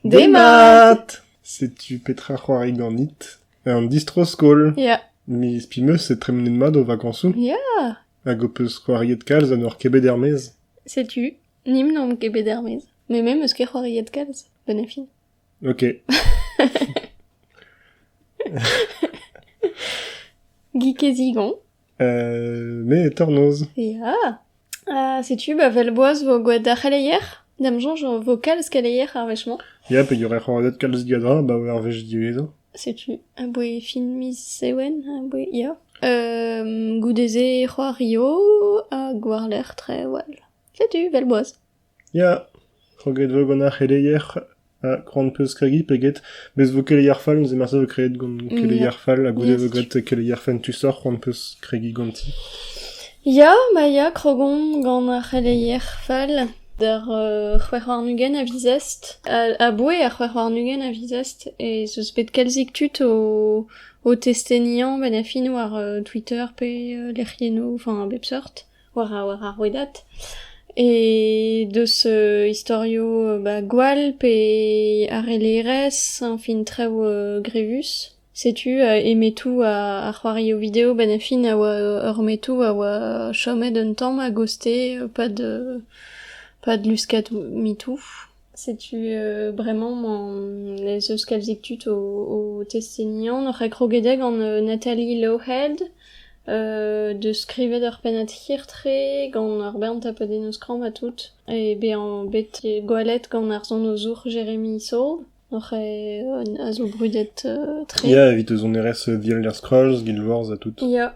Demat! Setu petra c'hoari ganit. Un distro-skol. Ya. Mes pimeus e tremenet mat o vakañsoù. Ya. Hag ho peus c'hoariet kalz ha n'oc'h ket bet er-maez. Setu, ni n'omp ket bet er-maez. Mais me meus ket c'hoariet kalz. Bonne fin. Ok. Guy Kezigon. me e tornoz. Ya. setu ba vel boaz vo gwelet d'ar c'heleier. D'am soñj vo kalz keleier ar wech-mañ. Ya, peogwir e c'hoarzhet kalz digadra, ba wer wech diwezhañ. Setu, aboe fin miz Sewen, aboe, ya. goude-se c'hoario hag war-lerc'h trewall. Setu, 'vel boaz. Ya, kroget 'vo gant ar c'heleier ha c'hoant 'peus kregiñ pe get. Bez 'vo keleier fall, neuze marteze 'vo kreet gant keleier fall ha goude 'vo graet keleier fentusoc'h, c'hoant 'peus kregiñ ganti. Ya, ma ya, krogon gant ar c'heleier fall d'ar c'hwec'h warn-ugent a vizest. aboe ar c'hwec'h warn-ugent a vizest ez eus bet kalzik tud o o testeniañ 'benn ar fin war Twitter pe lec'hiennoù, enfin a bep seurt. war ar rouedad e deus istorio ba gwall pe harellerezh añfin traoù grevus. Setu e metoù ar c'hoarioù video benn ar fin a oa ur metoù a oa chomet un tamm a-goste 'pad 'pad luskadoù metoù. Setu bremañ ez eus kalzik tud o testeni an oc'h krogedek gant Nathalie Lowhead deus skrivet ur pennad hirtre gant ur bern tapodennoù skramm ha tout e bezañ bet gwallet gant ar sonozour Jeremy Saul oc'h a zo brudet-tre. Ya, evit eus sonerezh Dear Little Scrolls, Guild Wars ha tout. Ya.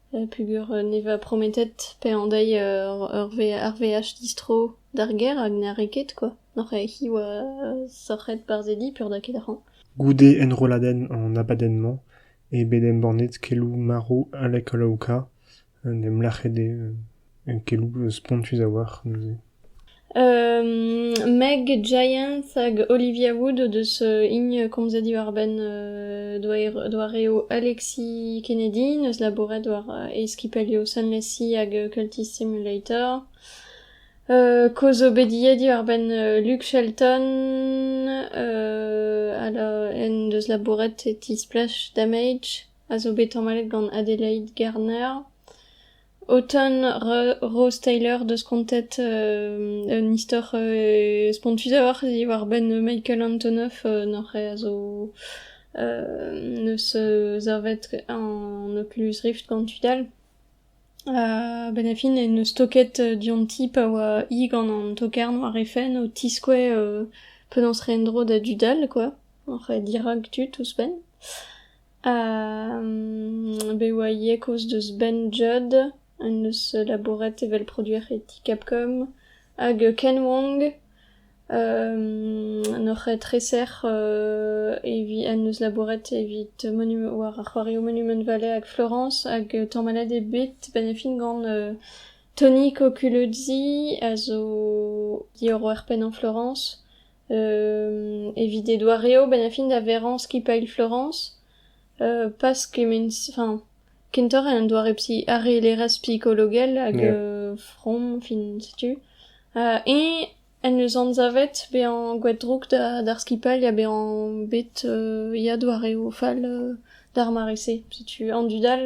Peogwir ne va prometet pe an deiz ar veaj distro d'ar gêr hag na rae ket kwa. N'oc'h hi oa sorc'het barzhedi peurda ket ac'han. Goude enrolladenn an abadenn-mañ eo bet embannet keloù marv Alek Olaouka en em lakaet eo. Keloù spontus a-walc'h neuze. Meg Giant hag Olivia Wood o deus hini komzet diwar-benn doareoù Alexi Kennedy, neus labouret war e skipailhoù Sunless Sea hag Culty Simulator. Koz obediet diwar-benn Luke Shelton, en deus labouret e ti Splash Damage, a zo bet tamallet gant Adelaide Garner. O ton Rose Taylor 'deus kontet un istor spontusoc'h diwar-benn Michael Antonoff n'oc'h a zo neus savet an Oculus Rift gant tud all. A-benn ar fin e neus toket dionti pa oa hi gant an tokarn war he fenn o tiskouez penaos re en-dro da dud all quoi, oc'h dirak tud ouzhpenn. Bet oa ivez kaoz deus Ben Judd en deus labouret evel produer e ti Capcom hag Ken Wong en hor treser evit en deus labouret evit monument war ar c'hoarioù Monument Valley hag Florence hag tamallet eo bet benefit gant Tony Coculuzzi a zo diorroer pennañ Florence. Evit e doareoù benn ar fin da verañ skipailh Florañs pas kement-se enfin kentoc'h en un doare psi arellerezh psikologel hag from fin setu eñ en deus anzavet bezañ gwall-drouk d'ar skipailh ha bezañ bet ya doareoù fall d'ar mare-se setu an dud all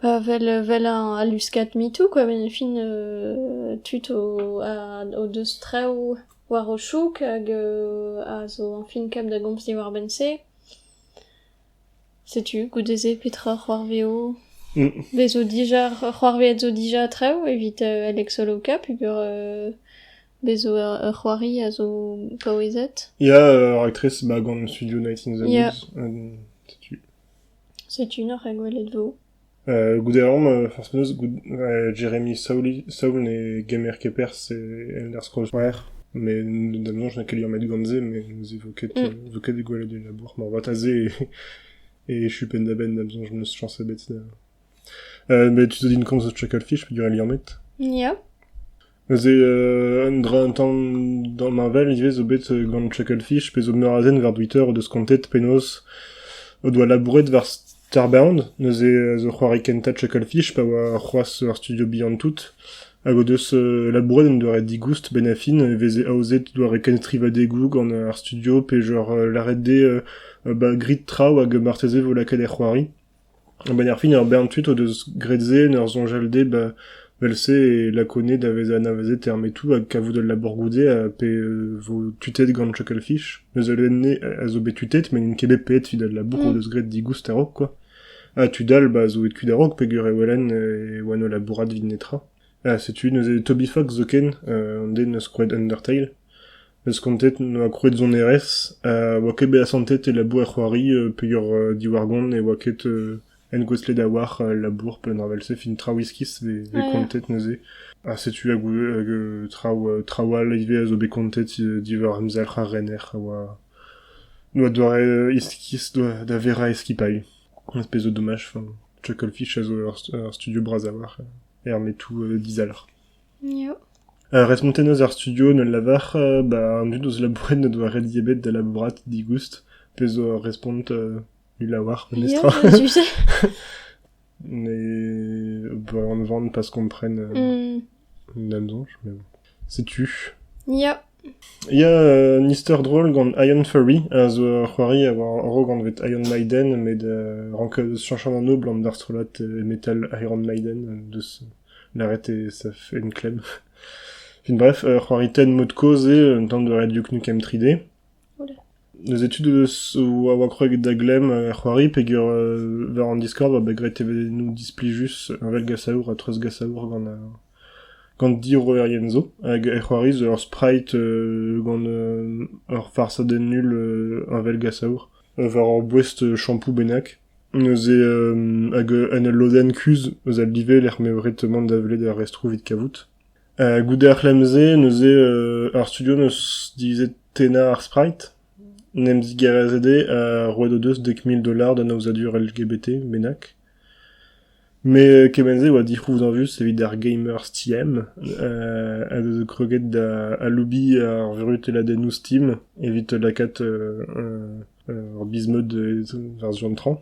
Pa vel vel al luskad MeToo kwa vel e fin tud o deus traoù war o chouk hag a zo añfin-kap da gomz diwar-benn-se. Setu goude-se petra c'hoarveo. Bez zo dija c'hoarveet zo dija traoù evit Alex Oloka peogwir bez zo ur c'hoari a zo paouezet. Ya, ur raktres ba gant Studio 19 Zamos. Setu. Setu int oc'h egwelet 'vo. Goude aon, forzh penaos, Jeremy Saoul ne gemer ket perzh e Elder Scrolls c'hwec'h, met da menañ n'oa ket liammet gant-se, met ne veze vo ket ket gwelet e labour. Moarvat aze e echu penn-da-benn da bezañ n'eus chañs ebet da... met tu zo din komz eus Chucklefish peogwir e liammet. Ya. Neuze un dra un tamm damheñvel ivez zo bet gant Chuckle Fish pe zo meur a zen war Twitter o deus kontet penaos o doa labouret war Starbound, neuze zo c'hoari kentañ Chuckle Fish pa oa c'hoazh ur studio bihan tout hag o deus labouret en doare digoust benn ar fin e veze aozet doare kenstrivadegoù gant ar studio pe genre lâret dezhe ba grit traoù hag marteze vo lakaet er c'hoari. A-benn ar fin, ur bern tud o deus graet se en ur soñjal dezhe ba vel-se e lakoned a vez anavezet er metoù ha kavout ul labour goude ha pe vo tutet gant Chucklefeef. Neus ul enne a zo bet tutet met n'int ket bet paeet evit al labour o deus graet digoust a-raok kwa. Ha tud all ba zo bet kuit a-raok peogwir e welen e oant o labourat evit netra. Ha setu neuze Toby Fox zoken, an den eus skoed Undertale. Eus kontet noa krouet sonerezh ha oa ket bet asantet e labour-c'hoari peogwir diwar-gont ne oa ket engouestlet a-walc'h al labour pennañ evel-se fin traoù iskis vez kontet neuze ha setu hag traoù traoù all ivez a zo bet kontet diwar emzalc'h ar rener a oa noa doare iskis da verañ e skipailh az pezo domaj chucklefish a zo ur studio bras a-walc'h er metou dizalc'h. Respontet 'neus ar studio en ul lavar ba an dud eus labouret n'o doa ret dibet da labourat digoust pezh zo ur respont ul lavar memestra. Ne ober an van pas kompren an soñj, mais bon. Setu. Ya. Ya, un istor drol gant Ian Furry a zo ur c'hoari a oa a-raok anvet Iron Maiden met rank cheñch an anv abalamour d'ar strollad metal Iron Maiden deus lâret eo ça fait une clem. Fin bref, ur c'hoari tenn mod-kozh eo un tamm de Radio Nukem 3D. Deus etude a oa kroget da glemm ar c'hoari peger war an Discord oa bet graet evenou displij-us un vel gasaour ha treuzgasaour gant Gant diorroerien zo hag e c'hoaris ur sprite gant ur farsadenn null heñvelgasaour war ur boest shampoo bennak. Neuze hag en ul lodenn kuzh eus al live e-lec'h m'eo ret mont da welet ar restroù evit kavout. Goude ar c'hlemm-se neuze ar studio 'neus divizet tennañ ar sprite. En em zigarezet eo ha roet o deus dek mil dolar d'an aozadur LGBT bennak. Met kement-se a oa dic'houzañvus evit ar gamers Steam a zo kroget da aloubiñ ar vurutelladennoù Steam evit lakaat ur biz-mod war Zuantrañ,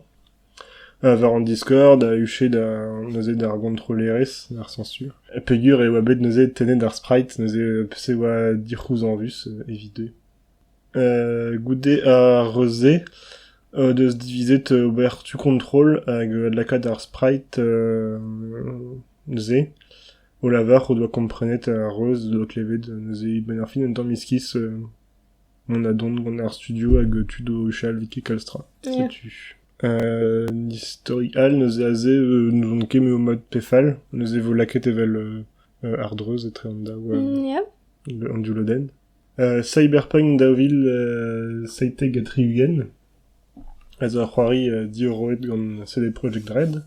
war an Discord a huche neuze d'ar gontrollerezh, d'ar sañsur, peogwir e oa bet neuze tennet ar sprite neuze p'e oa dic'houzañvus evit eo. Goude ar re-se o deus divizet ober tu kontrol hag lakaat ar Sprite-se o lavar o doa komprenet ar reuz o doa klevet neuze benn ar fin un tamm iskis mont a-dont gant ar studio hag tud o huchal evit kalz tra. Setu. Istori all neuze aze n'ouzon ket me eo mat pe fall neuze e vo lakaet evel Ardreuz etre an daou... an div lodenn. Cyberpunk daou vil seitek ha tri-ugent a zo ur c'hoari diorroet gant CD Projekt Red.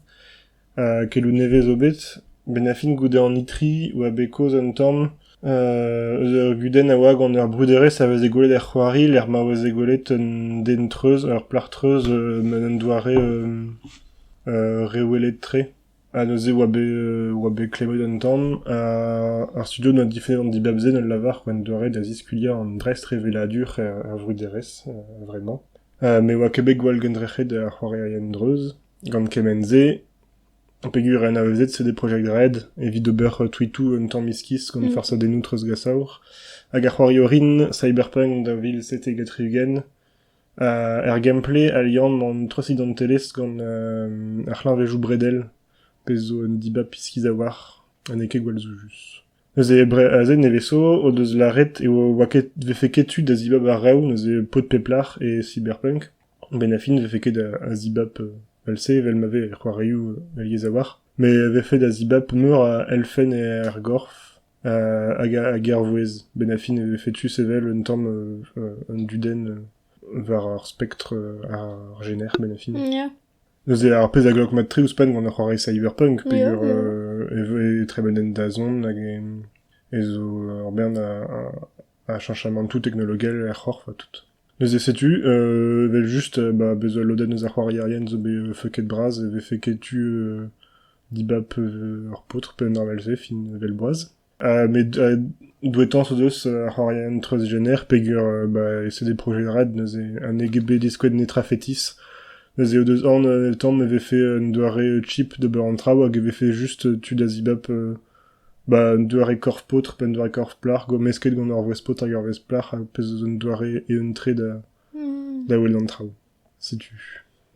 keloù nevez zo bet, benn ar fin goude an itri oa bet kaoz un tamm eus ur gudenn a oa gant ur bruderezh a veze gwelet er c'hoari lec'h ma veze gwelet un den-treuz, ur plac'h-treuz en un doare rewelet-tre. Ha neuze oa bet oa bet klevet un tamm ha ar studio doa difennet an dibab-se d'al lavar c'hwent doare da ziskuilhañ an dreistrevelladur er er vruderezh a-vremañ. Me oa ket bet gwall gendrec'het ar c'hoarierien dreuz gant kement-se peogwir anavezet c'est des project red evit ober tweetoù un tamm iskis gant farsadennoù treuzgasaour hag ar c'hoarioù rin cyberpunk daou vil seizh-ugent Er gameplay al liamm an trasidantelezh gant ar c'hleñvedoù bredel, pezh zo un dibab iskis a-walc'h ha n'eo ket gwall soujus. Neuze aze nevez-zo o deus lâret e vefe ket tu da zibab ar reoù neuze paotr pep lec'h e Cyberpunk. A-benn a fin ne vefe ket a zibab evel-se evel ma vez er c'hoarioù alies a-walc'h. Met e vefe da zibab meur a elfenn er gorf hag ar vouezh. Benn ar fin e vefe tu sevel un tamm un dudenn war ar spektr ar jener benn ar fin. Neuze ar pezh a glok mat tre ouzhpenn gant ar c'hoari cyberpunk peger e, e, e trebellent dazont hag e, e zo ur bern a, Bah, chanchamantoù teknologel er c'horf ha tout. Neuze setu, euh, evel just, euh, bah, bezañ lodenn eus ar c'hoarierien zo bet euh, feuket bras e vefe ketu euh, dibab euh, ur paotr pe un arvel-se fin evel boaz. Uh, met uh, douetañs o deus ar c'hoarierien transgener peger uh, bah, e c'est des projets red neuze un EGB diskoued netra fetis neuze o deus an euh, el tamm e vefe un doare chip d'ober an traoù hag e vefe juste tu da zibab euh, Ba un doare korf-paotr pe un doare korf-plac'h, gommesket gant ur wrez-paotr hag ur wrez-plac'h, ar pezh zo un doare eeun-tre da da welet an traoù. Setu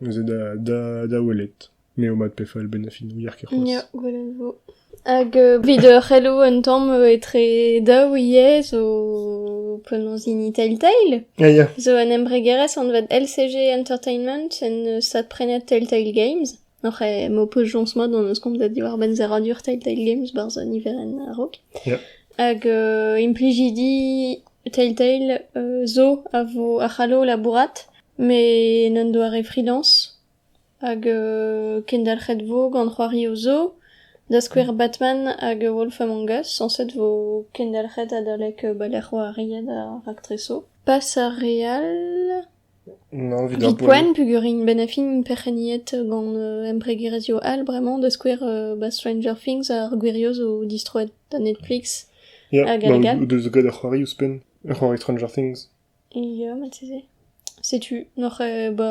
neuze da da da welet. M'eo mat pe fall benn ar fin, ouier ket c'hoazh. Ya, gwell a vo. Hag euh, evit ur c'hello un tamm euh, etre daou ivez zo penaos in Telltale. Ya, ya. Zo un embregerezh anvet LCG Entertainment en euh, stad prenet Telltale Games. Oc'h e m'ho peus joñs mat hon eus komzet diwar-benn serradur Telltale Games 'barzh niverenn a-raok. Yeah. Hag euh, implijidi Telltale euh, zo a vo a c'hallo labourat met n'en doare freelance hag euh, kendalc'het vo gant c'hoario zo da skouer Batman hag Wolf Among Us sañset vo kendalc'het adalek euh, balec'h oariet ar raktreso. Pas ar re all Evit poent peogwir int bet e fin perc'henniet gant embregerezhioù all bremañ da skouer ba Stranger Things ar gwirioù zo distroet da Netflix hag alegat. Ya, deus gant ar c'hoari ouzhpenn, ar c'hoari Stranger Things. Ya, marteze. Setu, oc'h ba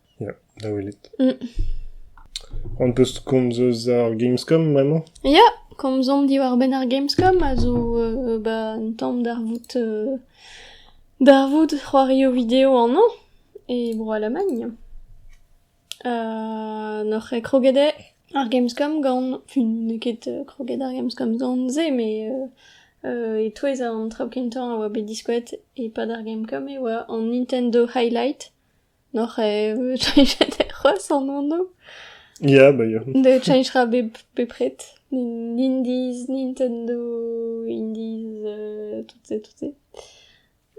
Ya, da welet. Mm. On peus komz eus ar Gamescom bremañ? Ya, komzomp diwar-benn ar Gamescom a zo euh, ba, un tamm darvoud euh, darvoud c'hoario video annañ e Bro-Alamagn. Euh, N'oc'h ket kroget eo ar Gamescom gant... Fun, n'eo ket euh, kroget ar Gamescom gant se, mais euh, euh, e-touez an traoù kentañ a oa bet diskouet e-pad ar Gamescom e oa an Nintendo Highlight N'oc'h eo cheñchet c'hoazh an anv? Ya, ba ya. Ne cheñchera bep bepred. N'Indiz, Nintendo, Indiz, tout se, tout se.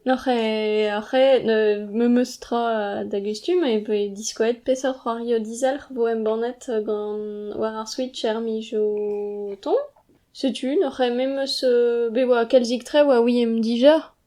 N'oc'h eo oc'h eo memes tra d'hag e stumm e voe diskoaet peseurt c'hoario dizalc'h vo embannet gant war ar Switch er miz o tont. Setu n'oc'h eo memes... be oa kalzik-tre oa ouiemp dija.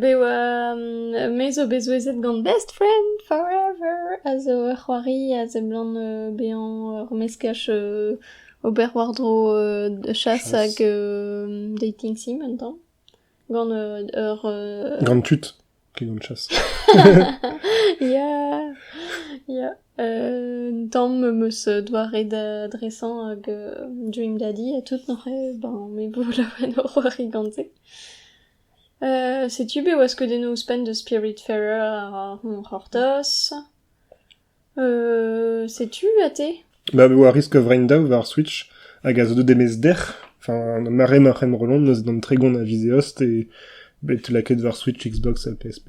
Be 'oa me zo bet souezhet gant Best Friend Forever a zo ur c'hoari a seblant bezañ ur meskaj ober war-dro chass hag dating sim un tamm gant ur... Gant tud ket gant chass. Ya, ya. Un tamm am eus doare da dresañ hag duim da di ha tout neuze ben me vo laouen o c'hoari gant se. setu be waskeudennoù ouzhpenn deus Spiritfarer a roan c'hortoz. setu ha te? Ba me oa risk a-vremañ daou war Switch hag a zo deuet e-maez dec'h. Enfin ar mare ma c'hen rollon neuze d'an tregont a viz Eost e bet lakaet war Switch, Xbox ha PS5.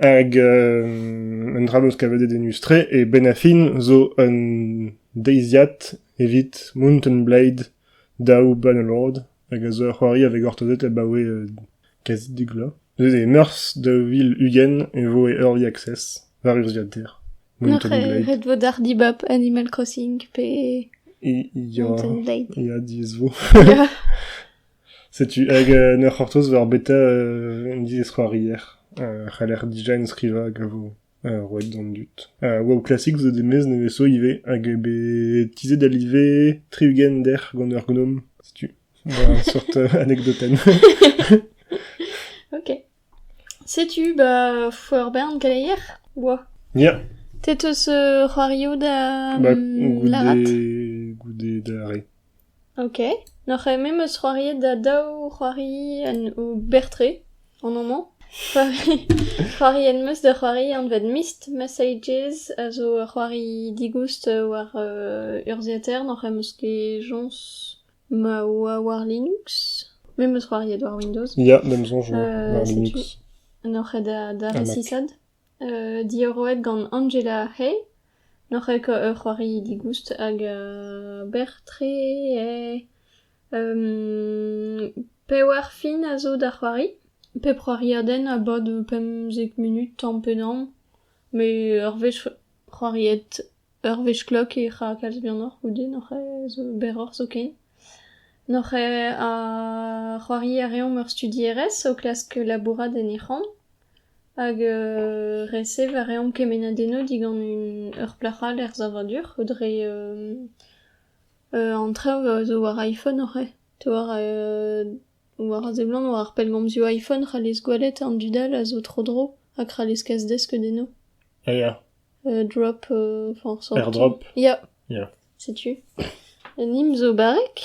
Hag euh, un dra eo kavet e denus-tre eo benn ar fin zo un deiziad evit Mountain Blade daou Bannerlord hag a zo ur c'hoari a vez gortozet abaoe euh, kazi dek vloaz. Neuze e meurzh daou vil ugent e vo e Early Access war urzhiader Mountain Ret Blade. ret vo d'ar dibab Animal Crossing pe... Il y a, Mountain Blade. il y a 10 vo. Ya. Setu hag en ur c'hortoz war beta un diskouarier a c'haller design-skrivañ hag a vo roet d'an dud. Wow Classic zo demez nevez-zo ivez hag bet tizhet da live tri-ugent dec'h gant ur gnom, setu. War seurt anekdotenn. Ok. Setu 'ba four-bern keleier 'oa. Ya. Te 'teus c'hoarioù da lârat? Goude da re. Ok. N'oc'h ket me 'meus c'hoariet da daou c'hoari en o ber-tre an amañ. C'hoari en-meus da c'hoari anvet Mist, Messages a zo ur c'hoari digoust war urzhiataer. N'oc'h 'meus ket joñs Ma oa war Linux. Me 'm eus c'hoariet war Windows. Ya, me 'm soñj euh, war Linux. N'oc'h ket da, da resisaat. Euh, diorroet gant Angela Hay. N'oc'h ket ur c'hoari digoust hag euh, berr-tre eo. Euh, pevar fin a zo da c'hoari. Pep c'hoariadenn a bad pemzek munut tamm pe damm. Met ur wech c'hoariet Ur wech klok ec'h a kalz bihanoc'h goude n'oc'h zo berroc'h zoken. N'oc'h a c'hoari a reomp ur studierez o klask labourat en he c'hamp hag resev a reomp kemennadennoù digant ur plac'h all er savadur dre an traoù a zo war iPhone oc'h. Diwar War a seblant, war ar pellgomzioù iPhone, c'hallez gweled an dud all a zo tro-dro hag c'hallez kas desked enno. Ah ya, Euh, drop, euh, enfin, sortie. airdrop. Ya, Ya. setu. Nim zo barrek.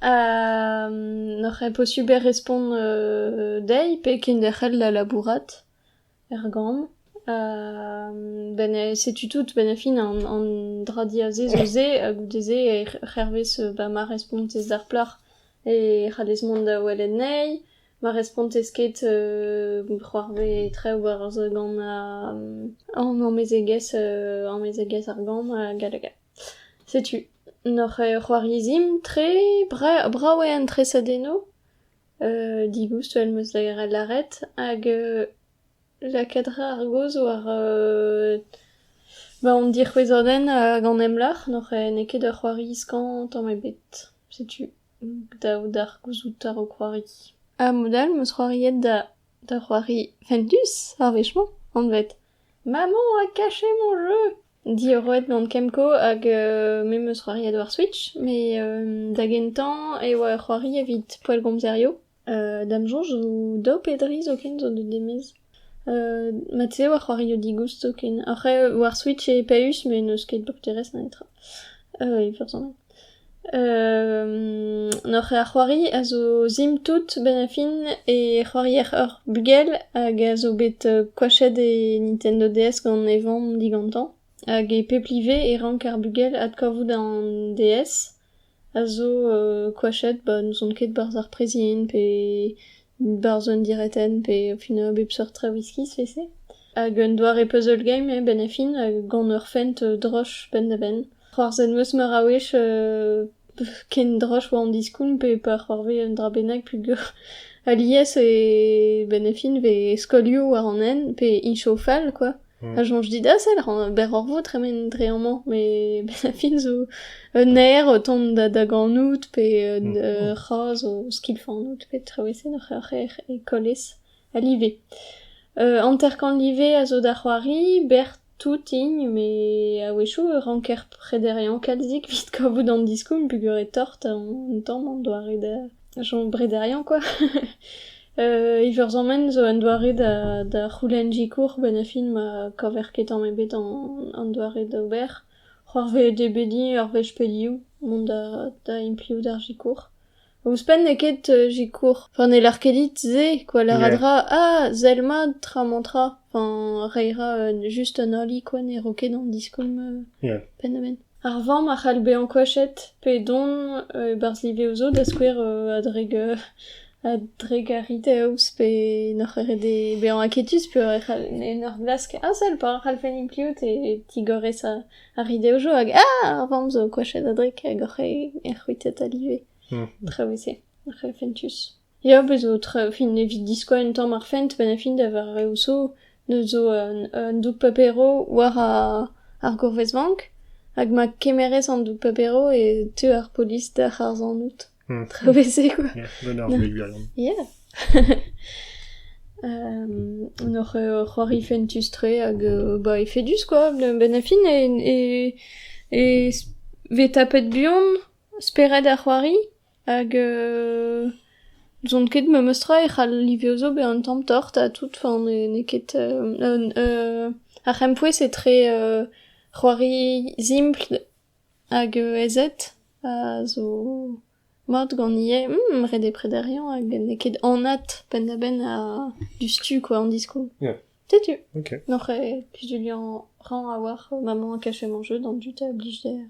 ha n'oc'h ket posubl respont euh, dezhi pe kenderc'hel da labourat. er gambr. setu tout benn ar fin an dra diazez zo-se ha goude-se c'hervez ba ma respontez d'ar plac'h e c'hallez mont da welet anezhi. Ma respontez ket c'hoarvez traoù war gant an amezegez amezegez ar gambr hag all hag all. Setu. N'hor c'hoariezimp tre brav eo an tresadennoù. digoust vel m'eus lâret hag lakaat a ra ar gaoz war ba hon dic'hwezhadenn hag an emlac'h n'eo ket ur c'hoari skañv tamm ebet setu dav d'ar gouzout a-raok c'hoari ha mod-all 'meus c'hoariet da c'hoari fentus ar wech-mañ anvet maman a kache mon jeu! Diorroet gant Kemco hag memes c'hoariet war Switch, met da gentañ e oa ur c'hoari evit poellgomzerioù. Da'm soñj zo daou pe dri zoken zo deuet e-maez. Mat-se e oa c'hoarioù digoust zoken. Après, war Switch e Paeus met n'eus ket doktorezh netra e vrezhoneg. Hoc'h eo ar c'hoari a zo sim-tout benn-ar-fin e c'hoarier ur bugel hag a zo bet koachet e Nintendo DS gant e vamm digantañ hag e pep live e rank ar bugel adkavout an DS a zo koachet ba n'ouzon ket barzh ar prezident pe Barzh un diretenn pe au final bep seurt tra viskis fese. Hag un doare puzzle game eo benn ar fin, hag gant ur fent droch penn-da-benn. C'hoarzhet 'm eus meur a wech ken droch war an diskoulm pe pa c'hoarvez un dra bennak peogwir alies e benn ar fin 'vez skolioù war an hent pe incho fall quoi. A soñj dit a sell berroc'h-vo tremen dre amañ, met a fin zo un aer o tont da daganout pe ur c'hazh o skilfanout pe traoù-esen oc'h e kolez ha live. Hanter-kant live a zo da c'hoari, berr toutin met a-wechoù e ranker prederiañ kalzik evit kavout an diskoulm peogwir eo tort an tamm an doare da chom brederiañ kwa. Iwerzonmen zo un doare da c'houlenn sikour benefit ma kaver ket tamm ebet an doare d'ober. C'hoarvezet eo bet din ur wech pe div mont da impliout ar sikour. Ouzhpenn n'eo ket sikour, pa n'heller ket dit se kwa lâret 'ra ah sell mat tra-mañ-tra, enfin reiñ 'ra just un ali kwa ne ro ket an diskoulm penn-ha-penn. Ar vamm a c'hall bezañ koachet pe dont e-barzh liveoù zo da skouer a-drugarekaus pe n'oc'h ket ret bezañ aketus peogwir e c'hall en ur glask asal pa c'hallfen implijed e tigorez ar rideoù-jo hag ah ar vamm zo koachet a-drek hag hoc'h c'hwitet a live. Traoù e-se, fentus. Ya, bez' zo tra... fin evit diskoaz un tamm ar fent 'benn ar fin da vareoù zo. Neuze zo un doug-paperoù war ar gourvezvank hag ma kemerez an doug-paperoù e teu ar polis d'hec'h arzanout. Tra bez'e quoi. Gant ar gwez gallon. Ya. Hoc'h c'hoari fentus-tre hag ba efedus quoi. Benn ar fin e vez tapet buan spered ar c'hoari. Hag n'ouzon ket memes tra e c'hall ivez zo bezañ un tamm tort ha tout, fa n'eo ket ar c'hempouez etre c'hoari simpl hag aezet a zo mat gant ivez ret eo prederiañ hag n'eo ket anat penn-da-benn diouzhtu quoi an diskoulm. Setu n'oc'h ket kuzuliañ a-rañ a-walc'h maman a kache mañ jeu d'an dud a blij dezhañ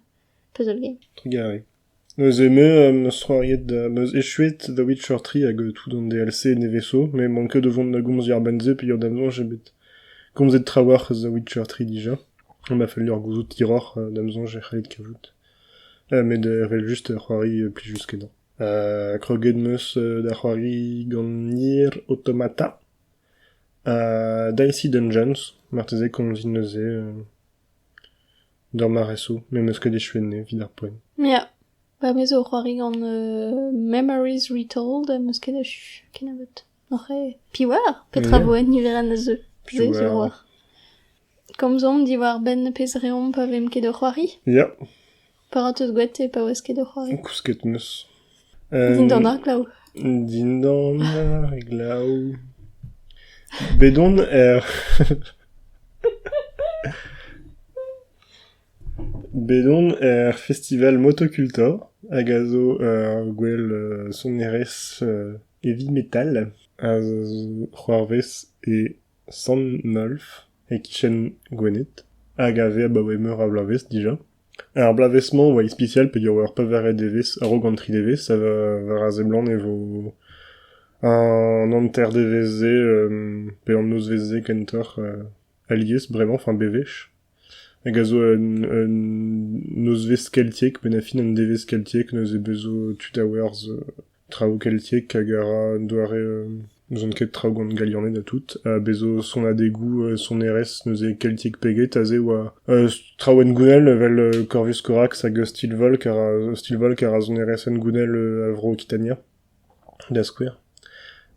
puzzle game. Trugarez. Neuze me am eus c'hoariet, am eus echuet The Witcher tri hag tout an DLC nevez-zo, met 'mank ket o vont da gomz diàr-benn-se peogwir da soñj eo bet komzet trawalc'h eus The Witcher tri dija, ha ma fell deoc'h gouzout hiroc'h da'm soñj e c'hellit kavout, met evel-just c'hoari plijus kenañ. kroget 'm eus da c'hoari gant Nier Automata ha Dicey Dungeons, marteze komzit neuze. D'ur maresoù m'em eus ket echuet evit ar poent. Ya. Pa vez o c'hoari gant euh, Memories Retold am eus ket achu kennebeut. Oc'h eo. Piv oar petra Yeah. vo en niverenn a zeu. Piv Se zo oar. oar. Komzomp diwar-benn pezh reomp pa vemp ket o c'hoari. Ya. Pa ra teus gwet e paouez ket o c'hoari. Kousket 'm eus. Dindan ar glav. Dindan ar glav. Bet on er... Bet on er festival Motocultor, hag a zo ur gwell uh, sonerezh uh, heavy metal, a zo c'hoarvez e Sant-Nolf, e kichen Gwened, hag a vez abaoe meur a bloavezh dija. Er bloavezh-mañ e oa ispisial p'eo ur pevared devezh a-raok an tri devezh ha war a seblant e vo an hanter-devezh-se pe an nozvezh-se kentoc'h alies bremañ, fin bewech, hag a zo un un nozvezh keltiek pennañ fin an devezh keltiek neuze 'beus zo tud a-werzh traoù keltiek hag a ra un doare n'ouzon ket traoù gant galianed ha tout ha bezo sonadegoù sonerezh neuze keltiek peget aze a oa traoùenn gounel evel Corvus Corax hag Steel Volk a ra Steel Volk a ra sonerezenn gounel a vro Okitania da skouer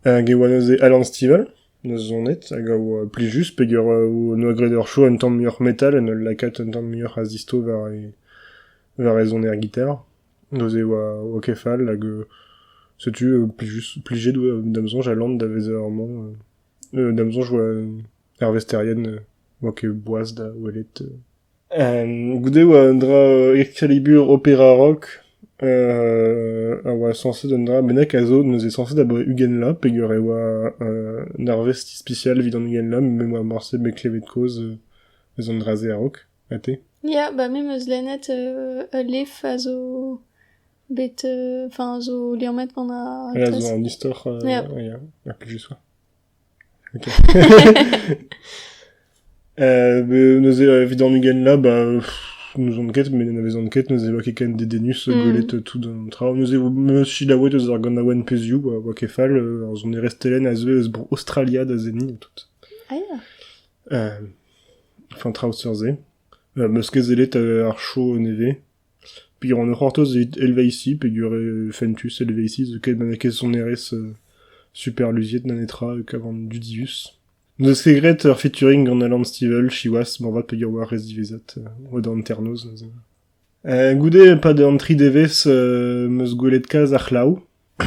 hag e oa neuze Alan Stivell n'eus zonet hag a oa plijus just peger noa graet ur show un tamm muioc'h metal en ul lakaat un tamm muioc'h a zistro war e war e soner gitar Neuze e oa ok fall hag setu plijet da'm soñj Alan da vezañ amañ. Da'm soñj e oa hervez Terrien oa ket boas da welet. Goude e oa un dra Excalibur opera rock a oa sañset un dra bennak a zo neuze sañset abaoe ugent bloaz peger e oa un arvest ispisial evit an ugent bloaz me 'oa morse bet klevet kaoz eus an dra-se a-raok. Ha te ? Ya, ba me 'm eus lennet ul lef a zo bet enfin a zo liammet gant ar Voilà, zo un istor euh, Yeah. ouais, yeah, à plus je sois. Ok. euh, mais nous est évident nugen là, bah pff, nous on ket, mais nous vezont ket, nous êt ken dedenus Mm. gwelet tout an tra. Nous est me silaouet eus ar ganaouenn peziou, oa oa ket fall, euh, ar zon erestelen a zeu eus bro Australia da zeni tout. Ah ya. An traoù seurt-se. M eus ket sellet ar show nevez. Peogwir ne c'hortoz evit helveisi peogwir eo fentus helveisi zo ket ma n'eo ket sonerezh super luziet na netra kavan dudius. N'eus ket graet ur featuring gant Alan Stivell siwazh moarvat peogwir oa ar re ziwezhat oa da hanternoz neuze. Goude pad an tri devezh 'm eus gwelet kalz ar c'hlav.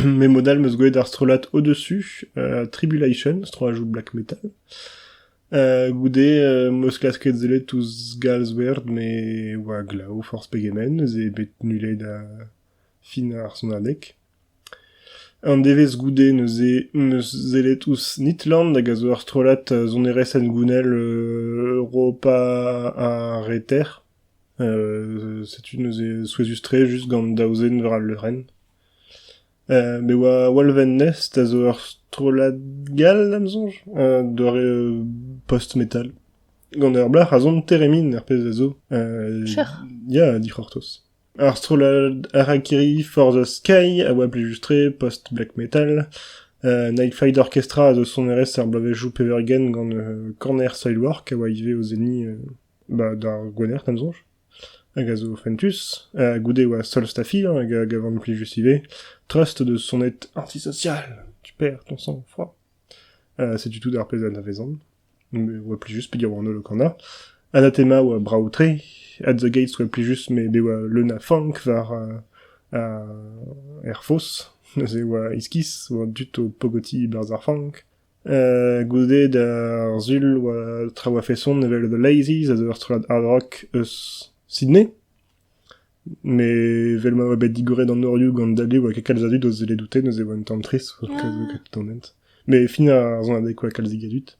Mais mod all 'm eus gwelet ar strollad Au-dessus, euh, Tribulation, strollajoù black metal. Euh, goude euh, 'm eus klasket sellet ouzh Galswerd me oa glav forzh pegen zen, ez eo bet nullet da fin ar sonadeg. An devezh goude neuze 'm eus sellet ouzh Nitland hag a zo ur strollad euh, sonerezh hengounel euh, Europa ha Reter. Euh, setu neuze souezhus-tre just gant daou zen war al leurenn. Me oa Walvennest a zo ur strollad gall da'm soñj, doare post-metal. Gant ur blac'h a son Theremin ar pezh a zo. Cher. Ya, dic'hortoz. Ar strollad Harakiri for the Sky a oa plejustre post-black metal. Uh, Nightflight Orchestra a zo sonerezh ar bloavezhioù peurgent gant uh, Corner Soilwork a oa ivez o zenni uh, bah, d'ar Gwener, da'm soñj. hag a zo fentus, ha goude e oa solstafiañ hag a gavan plijus ivez, treust o deus sonet antisocial, tu perr, ton son, froid. Uh, setu tout ar pezh anavezan. Me oa plijus pedir an holl o kana. Anatema oa brav-tre, At the Gates oa plijus, met e oa leun a fank war uh, uh, Air Force, neuze oa iskis, oa dut o pogoti e-barzh ar fank, goude d'ar sul oa traoù a-feson evel The Lazies a zo ur strollad hard rock eus Sydney met evel ma oa bet digoret an norioù gant Dali oa ket kalz a dud o sellet oute neuze e oa un tamm trist o keloù an hent met fin ar sonadegoù oa kalzig a dud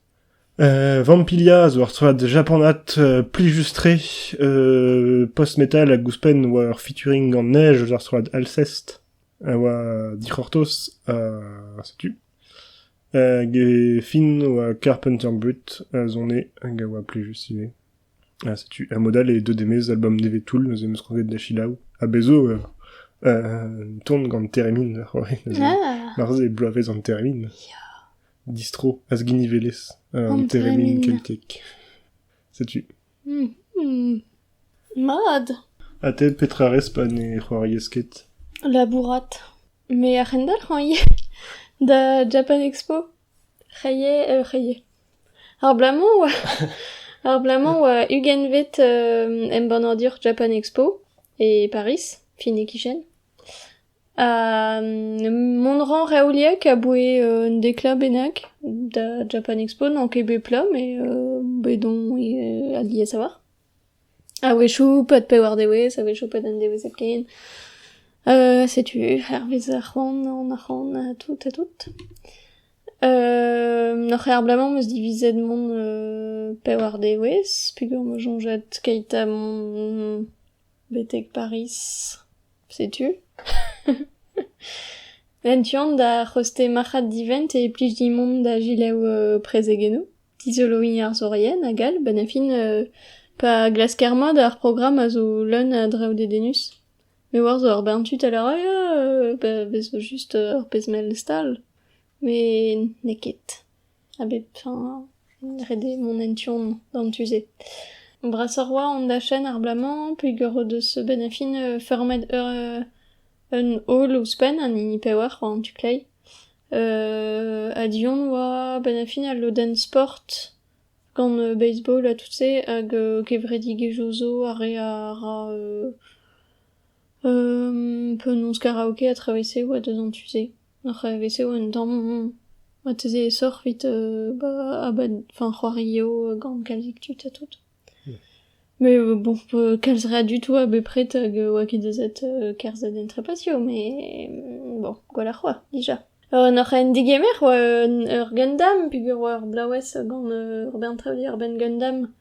Vampilia zo ur strollad japanat plijus-tre post-metal hag ouzhpenn oa ur featuring gant Neige eus ar strollad Alcest a oa dic'hortoz ha setu Hag e fin oa Carpenter Brut a zone hag a oa plijus ivez. Ha setu a-mod-all eo deuet e-maez album nevez toull neuze em eus kroget da selaou. Ha bez' zo ur un ton gant termin da c'hoari neuze. Ah. Marse bloavezh an termin. Distro, azginivelezh an termin keltiek. Setu. Mat. Ha te, petra 'rez pa ne c'hoariez ket? Labourat. Me a c'hendalc'hañ ivez da Japan Expo. C'hrie eo c'hrie. Ar bloaz-mañ 'oa ar bloaz-mañ 'oa ugentvet embannadur Japan Expo e Pariz, fin e kichen. Mont a ran reoliek aboae un deklà bennak da Japan Expo, n'on ket bet plat met bet on alies a-walc'h. A-wechoù pad pewar dewezh, a-wechoù pad un dewezh hepken. setu hervez ar c'hoant on a ran ha tout ha tout. N'oc'h ket ar bloaz-mañ 'm eus divizet mont pewar dewezh peogwir 'm eus soñjet keit ha mont Betek Pariz, setu. En tu-hont da c'hoste marc'had divent e plij dimp mont da gelaou prezegennoù, dizoloiñ arzourien hag all, benn ar fin pa glasker mat ar programm a zo leun a draoù dedennus. Me oar zo ur bern tud a lâr ya, a vez just ur pezh mell stal, met n'eo ket. A bep fin ret eo mont en tu-hont d'an tu-se. Brasoc'h 'oa an dachenn abalamour peger o deus bet a fin feurmet ur un holl ouzhpenn, an hini pewec'h war an tu kleiz. ha du-hont 'oa benn a fin al lodenn sport gant baseball ha tout-se hag kevredigezhioù zo ar re a ra penaos karaoke ha traoù-se 'oa deus an tu-se. Oc'h evit eo un tamm marteze aesoc'h evit enfin c'hoario gant kalzik tud ha tout. Mais bon kalz re a dud oa bepred hag oa ket aezet kerzhet en trepasio mais bon gwelloc'h oa dija. N'oc'h en degemer oa ur gendam peogwir oa ur blaouez gant ur bern trevdi ur benn gendam.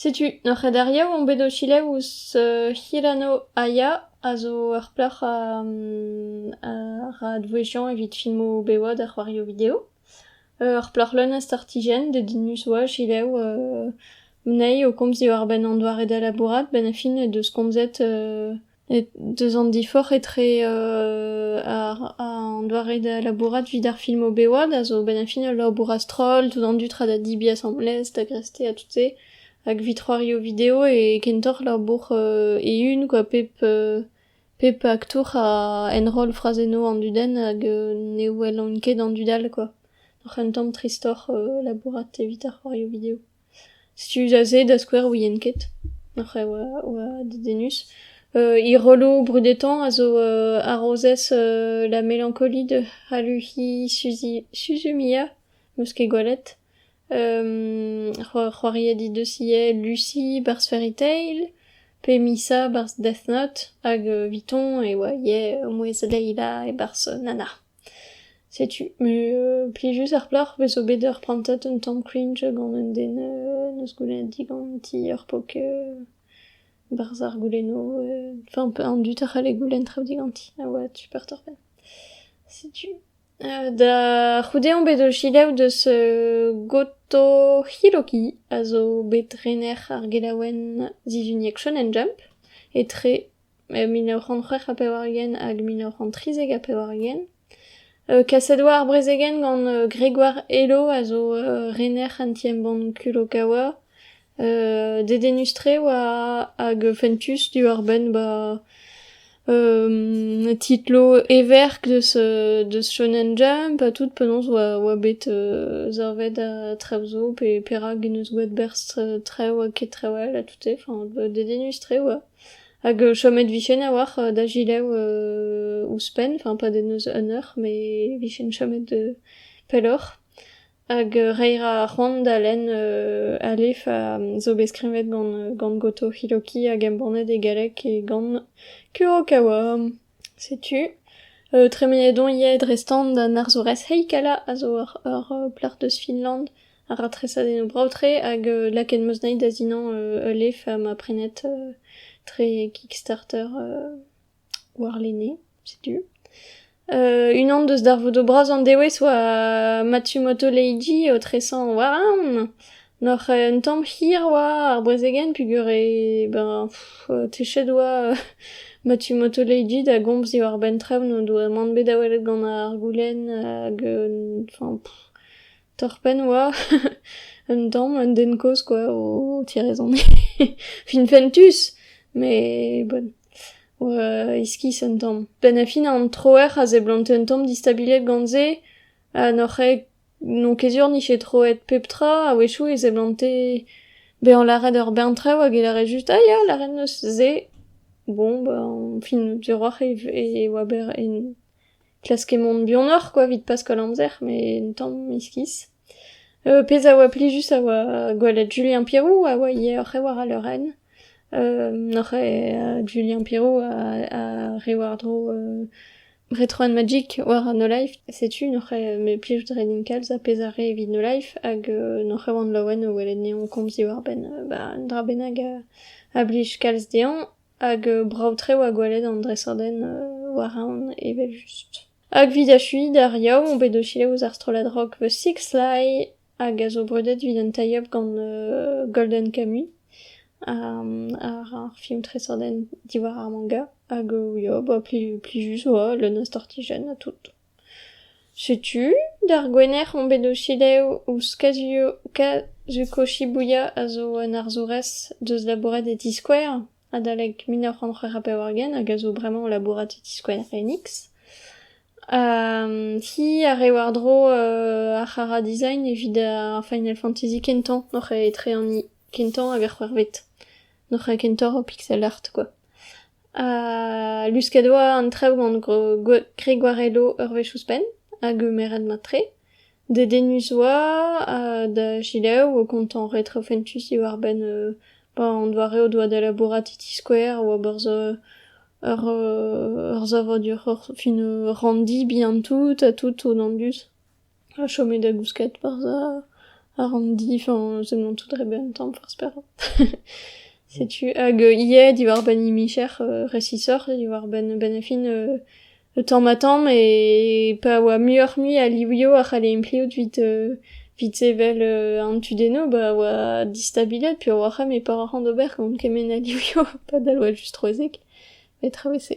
Setu ur c'hrederiañ on bet o selaou ouzh Hirano-Aya a zo ur plac'h a ra advouezhiañ evit filmoù bevañ da c'hoarioù video. Ur plac'h leun a startijenn, dedennus oa selaou anezhi o komz diwar-benn an doare da labourat 'benn ar fin he deus komzet Deus an diforc'h etre an doare da labourat evit ar film o bewad a zo a-benn ar fin ul labour a-stroll, tout an dud tra da debriñ asambles, da greste ha tout-se, hag evit c'hoario video e kentoc'h labour eeun kwa pep pep aktour a enroll frazennoù an dudenn hag ne wellont ket an dud all kwa, oc'h un tamm tristoc'h labourat evit ar c'hoario video. Studiañ se da skouer ouien ket, oc'h oa oa dedennus. He rolloù brudetañ a zo harozez la mélancolie de Haluhi Suzi- Suzumiya, 'meus ket gwelet. c'hoariadig deus ivez Lucy, barzh Fairy Tail, pe Misa, barzh Death Note, hag 'vitoñ e oa ivez mouezh Leila e barzh Nana. Setu plijus ar plac'h 'vez zo bet ur prantad un tamm cringe gant un den 'neus goulennet diganti ur pok barzh ar goulennoù, enfin an dud a c'halle goulenn traoù diganti a oa super torr-penn. Setu da c'houde on bet o selaou deus Goto Hiroki a zo bet rener ar gelaouenn sizhuniek Shonen Jump etre... mil nav c'hant c'hwec'h ha pevar-ugent hag mil nav c'hant trizek ha pevar-ugent. kaset oa ar brezegenn gant Gregoire Hello a zo rener an ti-embann Kulokawa. dedennus-tre oa hag fentus diwar-benn ba titlo everk deus deus Shonen Jump ha tout penaos oa oa bet savet traoù zo pe perak en deus boa berzh traoù ha ket traoù all ha tout-se. Enfin dedennus-tre oa. Hag chomet vijen a-walc'h da gilaou ouzhpenn, enfin pas da neuz un eur, mais vijen chomet pelloc'h. Hag reiñ 'ra ar c'hoant da lenn Alef a zo bet skrivet gant gant Goto Hiroki hag embannet e galleg e gant Kurokawa. Setu tremenet on ivez dre-stand d'an arzourez heikala a zo ur plac'h deus Finland a ra tresadennoù brav-tre hag lakaet 'm eus dezhi da sinañ ul lef ma prenet tre Kickstarter warlene, setu. Unan deus darvoudoù bras an dewezh oa Matsumoto Leiji o tresañ war an Noc'h un tamm hir oa ar brezegenn peogwir e ben techet oa ma tu motoleidi da gomz diwar-benn traoù n'o doa mann bet da welet gant ar goulenn hag un enfin torr-penn oa un tamm un den kozh kwa o tireizhoni finfentus met bon oa iskis un tamm. Penn ha fin an troer a seblante un tamm distabiliet gant se ha noc'h ket N'on ket sur 'nije troet pep tra. A-wechoù e seblante bezañ lâret ur bern traoù hag e lâre just ah ya lâret 'neus se. Bon ben fin diorroac'h e oa bet klaske mont buanoc'h kwa evit Paskal amzer met un tamm iskis. pezh a oa plijus a oa gwelet Julien Pirou a oa ivez oc'h e war al leurenn. noc'h eo Julien Pirou a re war-dro Retro and Magic war No Life, setu n'oc'h me plij dre din kalz ar pezh a re evit No Life hag n'oc'h oan laouen o welet neon komz diwar-benn ba un dra bennak a blij kalz dezhañ hag brav-tre oa gwelet an dresadenn war aon evel-just. Hag 'vit achuiñ d'ar Yaou on bet o selaou ouzh ar strollad rock The Six Lie. hag a zo brudet evit an tie-up gant Golden Camui, ar film tresadenn diwar ar manga, hag ya ba plijus oa leun a stortijenn ha tout. Setu d'ar Gwener on bet o selaou ouzh Kazuko Shibuya a zo un arzourez deus labouret e ti-skouer. adalek mil nav c'hant c'hwec'h ha pevar-ugent hag a zo bremañ o labourat e ti Square Enix. hi a rê war-dro ar c'hara design evit ar Final Fantasy kentañ noc'h etre an i kentañ hag ar c'hwec'hvet. Noc'h kentoc'h o pixel art quoi. luskad oa an traoù gant Gregoire Hello ur wech ouzhpenn hag meret mat-tre. Dedennus 'oa ha da selaou e oa kontañ retro fentus diwar-benn ba an doare o doa da labourat e ti skouer a oa berzh ur savadur fin ur ranndi bihan-tout ha tout tonnandus ha chomet da gousket berzh ar ranndi enfin semlant tout dre benn tamm forzh perak setu hag ivez diwar-benn hini micher resisoc'h diwar-benn benn fin Tamm-ha-tamm e pa oa muioc'h-mui a livioù a c'halle impliout evit evit sevel an tudennoù ba oa distabilet peogwir ar c'hemm e par ar c'han d'ober gant kement a livioù padal oa just troezek met tra oa se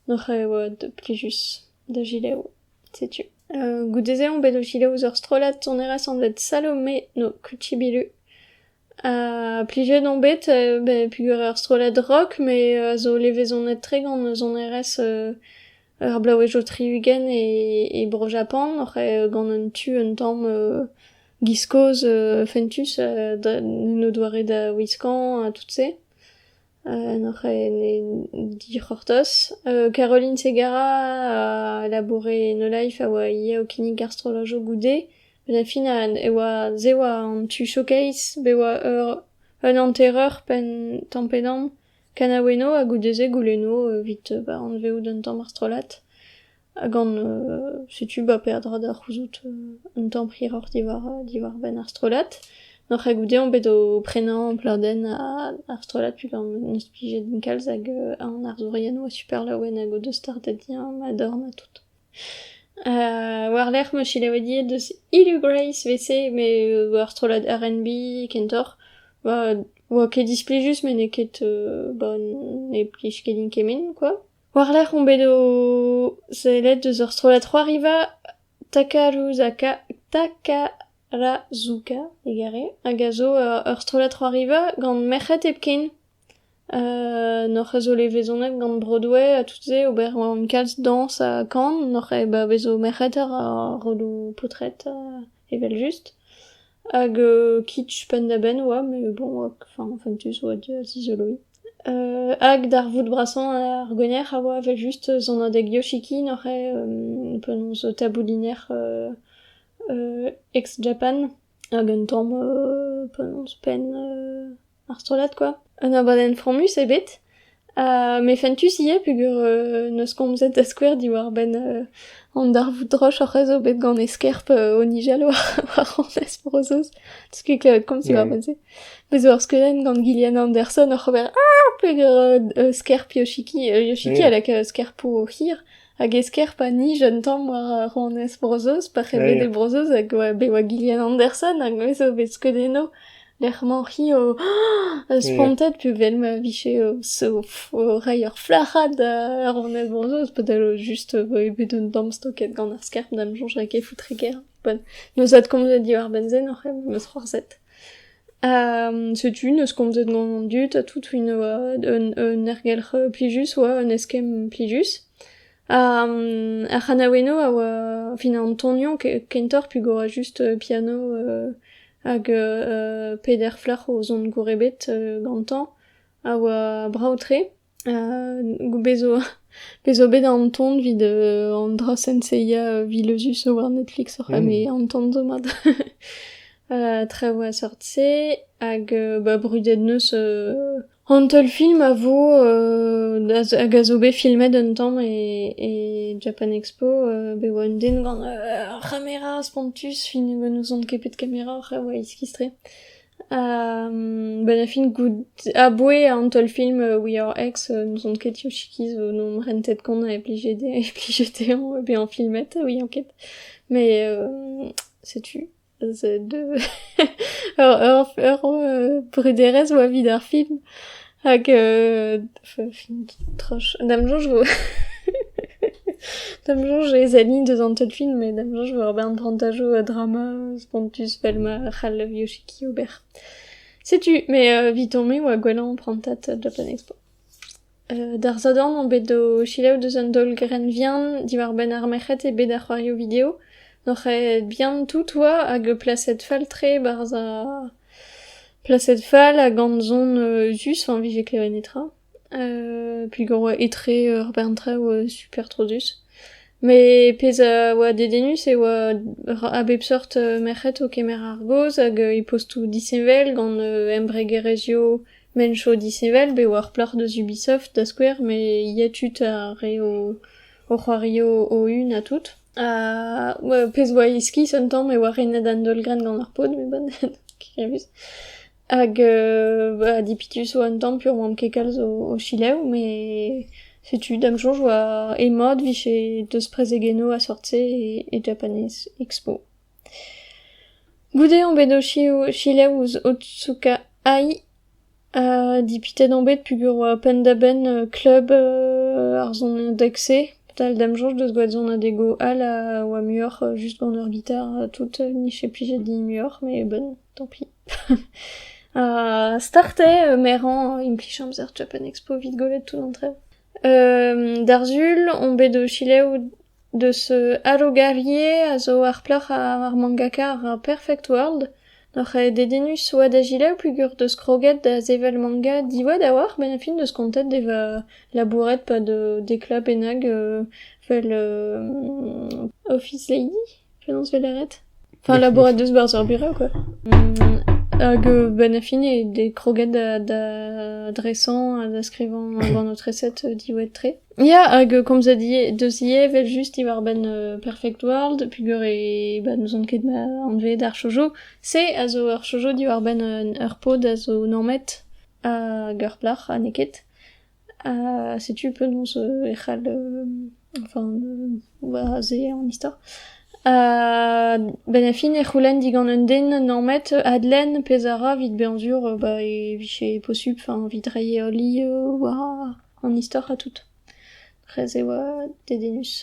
doc'h e oa plijus da gilaou setu goude-se on bet o gilaou ouzh ur strollad sonerezh anvet Salome no Kuchibilu Plijet on bet peogwir ur strollad rock met a zo levezonet-tre gant sonerezh ar blaouezhioù tri-ugent e Bro-Japan oc'h gant un tu un tamm giz-kozh fentus n'en o doare da wiskañ ha tout-se. Hoc'h ene dic'hortoz. Caroline Segara a laboure e No Life a oa ivez o kinnig ar strollajoù goude. Benn ar fin e oa se oa an tu showcase bet oa ur un hantereur penn tamm pe damm kanaouennoù ha goude se goulenno evit anvezout un tamm ar strollad. ha gant setu ba peadra da c'houzout un tamm hiroc'h diwar-benn ar strollad. N'oc'h ket goude on bet o prenañ pladenn ar strollad peogwir n'eus plijet kalz hag an arzourien oa super laouen hag o deus startet diañ ma dorn ha tout. War-lerc'h 'meus selaouet ivez deus Hugh Grace wc met ur strollad R&B kentoc'h. Oa ket displijus met n'eo ket ba ne plij ket din kement kwa. War-lerc'h on bet o sellet deus ur strollad c'hoariva Takaruzuka Takarazuka egare hag a zo ur strollad c'hoariva gant merc'hed hepken. N'hoc'h eus o levezonet gant Broadway ha tout-se ober gant kalz dañs ha kan, n'hoc'h eo bet bavezo merc'hed ar rodoù paotred evel-just. Hag kitch penn-da-benn oa, mais bon, enfin fentus oa da zizoloiñ. Hag d'ar voud brasañ ar gwenner a oa evel-just sonadeg Yoshiki n'oc'h eo penaos tabouliner ex-Japan hag un tamm penaos penn Ar strollad quoi. Un abadenn fromus eo bet. Ha me fentus ivez peger euh, n'eus komzet da skouer diwar-benn euh, an darvoud droch hoc'h eus bet gant eskerp euh, o Nijal war, war Anez Frozoz. T'eus ket klevet komz diwar-benn-se. Bez ur skeudenn gant Gillian Anderson oc'h ober Ah! Peger euh, euh, skerp Yoshiki. Euh, Yoshiki Mm. a laka skerp o hir. Hag esker pa nij un tamm war rouanez Bro-Zeuz, pa c'hevede Bro-Zeuz hag oa, be oa Gillian Anderson, hag me zo bet skeuet eno, lec'h-mañ hi o spontet, puvel ma vije o, o reiñ ur flac'had da rouanez Bro-Zeuz, padal just voe bet un tamm stoket gant ar skerb, da 'm soñj ket foutreger. Ne ouzon komzet diwar-benn se, n'oc'h eus c'hoarzhet. Setu n'eus komzet gant an dud ha tout un un ergelc'h plijus oa un eskemm plijus. Ar c'hanaouennoù a oa fin an tonioù kentoc'h pegwir just piano hag peder flac'h o zont gour ebet gantañ a oa brav-tre. Bezo bezo bet an ton 'vid an dra senseiya vileuzus war Netflix oc'h eme an ton domat. Traoù a-seurt-se hag ba brudet 'neus an teul film a vo hag a zo bet filmet un tamm e Japan Expo bet 'oa un den gant ur c'hamera spontus, n'ouzon ket pet kamera oc'h eus eskis-tre. Benn e fin goût aboe an teulfilm We Are X n'ouzon ket Yoshiki zo nom rentet kont a blije dezhañ e blije dezhañ bezañ filmet ouiañ ket met setu ur ur brederezh 'oa 'vit ar film. Hag euh, tra da'm soñj vo da'm soñj ez aini deus an teud film mais da'm soñj vo ur bern prantajoù a drama spontus fel ma c'hall Yoshiki ober. Setu, mais euh, eviton me oa gwellañ prantat Japan Expo. Euh, d'ar zadan on bet o selaou deus an daol grenvian diwar-benn ar merc'hed e bet ar c'hoarioù video. Noc'h eo bihan tout oa hag plaset fall-tre barzh ar Plaset fall ha gant son euzhus a vije klevet netra. Pellgor oa etre ur bern traoù super trodus. Met pezh a oa dedennus e oa a bep seurt merc'hed o kemer ar gaoz hag e postoù disheñvel gant embregerezhioù mencho disheñvel bet war plac'h deus Ubisoft da skouer met yetu 'ta re o c'hoarioù o-hun ha tout. pezh 'oa iskis un tamm e oa renet an daol-grenn gant ar pod met bon kirrimus hag ha dipitus 'oa un tamm pur 'oamp ket kalz o chilev met setu da'm soñj 'oa emañ 'vije deus prezegennoù a-sort-se e Japanese Expo. Goude omp bet o chilev ouzh Otsuka Ai Dipitet on bet peogwir penn-da-benn klub ar sonadeg-se, dal da'm soñj deus gwad sonadego all a oa muioc'h just gant ur gitar tout nije plijet din muioc'h met bon tant pis. Ha start eo merañ implij amzer Japan Expo 'vit gwelet tout an traoù. D'ar sul on bet o selaou Deus Arogarie a zo ar plac'h ar mangaka ar Perfect World. N'oc'h dedennus oa da selaou peogwir 'deus kroget da sevel manga diwad a-walc'h benn ar fin 'deus kontet da vezañ labouret 'pad dek bloaz bennak 'vel Office Lady. Penaos 'vez lâret ? Enfin, labourat deus 'barzh ar bura quoi. Hag benn ar fin eo bet kroget da dresañ ha da skrivañ gant ho treset diwezhat-tre. Ya, hag komz a die deus ivez evel-just diwar-benn Perfect World peogwir e bah n'ouzon ket ma anveet ar shoujo. Se a zo ur shoujo diwar-benn ur pod a zo normet hag ur plac'h ha n'eo ket. Setu penaos e c'hall enfin ober aze an istor. Benn ar fin e c'houlenn digant un den namet adlenn pezh a ra evit bezañ sur ba e vije posupl enfin evit reiñ ali war an istor ha tout. Dres e oa dedennus.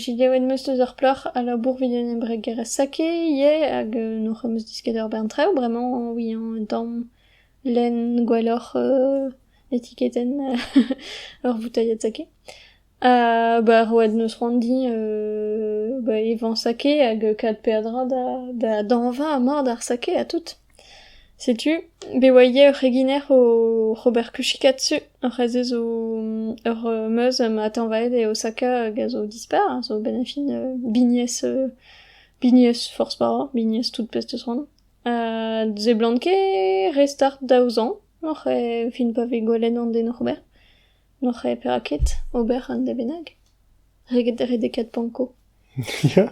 Giliaouet 'm eus eus ar plac'h a labour 'vit un embregerezh sake ivez hag n'hoc'h eus disket ur bern traoù bremañ oui un tamm lenn gwelloc'h Etiketenn ur voutailhad sake. Ba ur oad 'neus c'hoant din ba evañ sake hag kat peadra da da dañva ha mard ar sake ha tout. Setu bet oa ivez ur c'heginer oc'h ober kuchikatsu. Ur c'hazh zo ur meuz ma tañvaet eo saka hag a zo dispar, a zo benn ar fin bignez bignez forzh bara, bignez tout pezh 'teus c'hoant. seblant ket re start daou zañv. Oc'h evit pa vez gwelet an den oc'h ober, n'oc'h perak ket ober un dra bennak reget redekaat panko. Ya.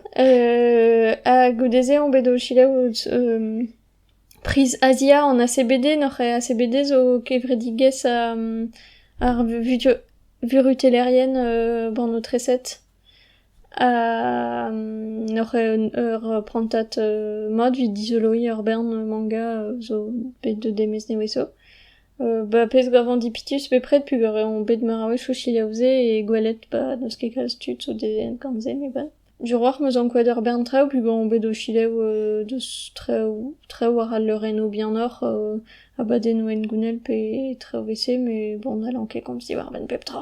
ha goude-se on bet o selaou priz Azia an ACBD, n'oc'h ACBD zo kevredigezh ar vurutellerien bannoù treset. N'oc'h eur prantad mat evit dizoloiñ ur bern manga zo bet deut e-maez nevesañ. Ba pezh gavan dipitus bepred peogwir eo bet meur a-wezh o selaou-se e gwelet ba n'eus ket kalz tud zo devet gant se met bon. Diwrac'h 'm eus ankouaet ur bern traoù peogwir on bet o selaou deus traoù traoù war al leurennoù bihanoc'h abadennoù hengounel pe traoù 'vel-se met bon n'hallan ket komz diwar-benn pep tra.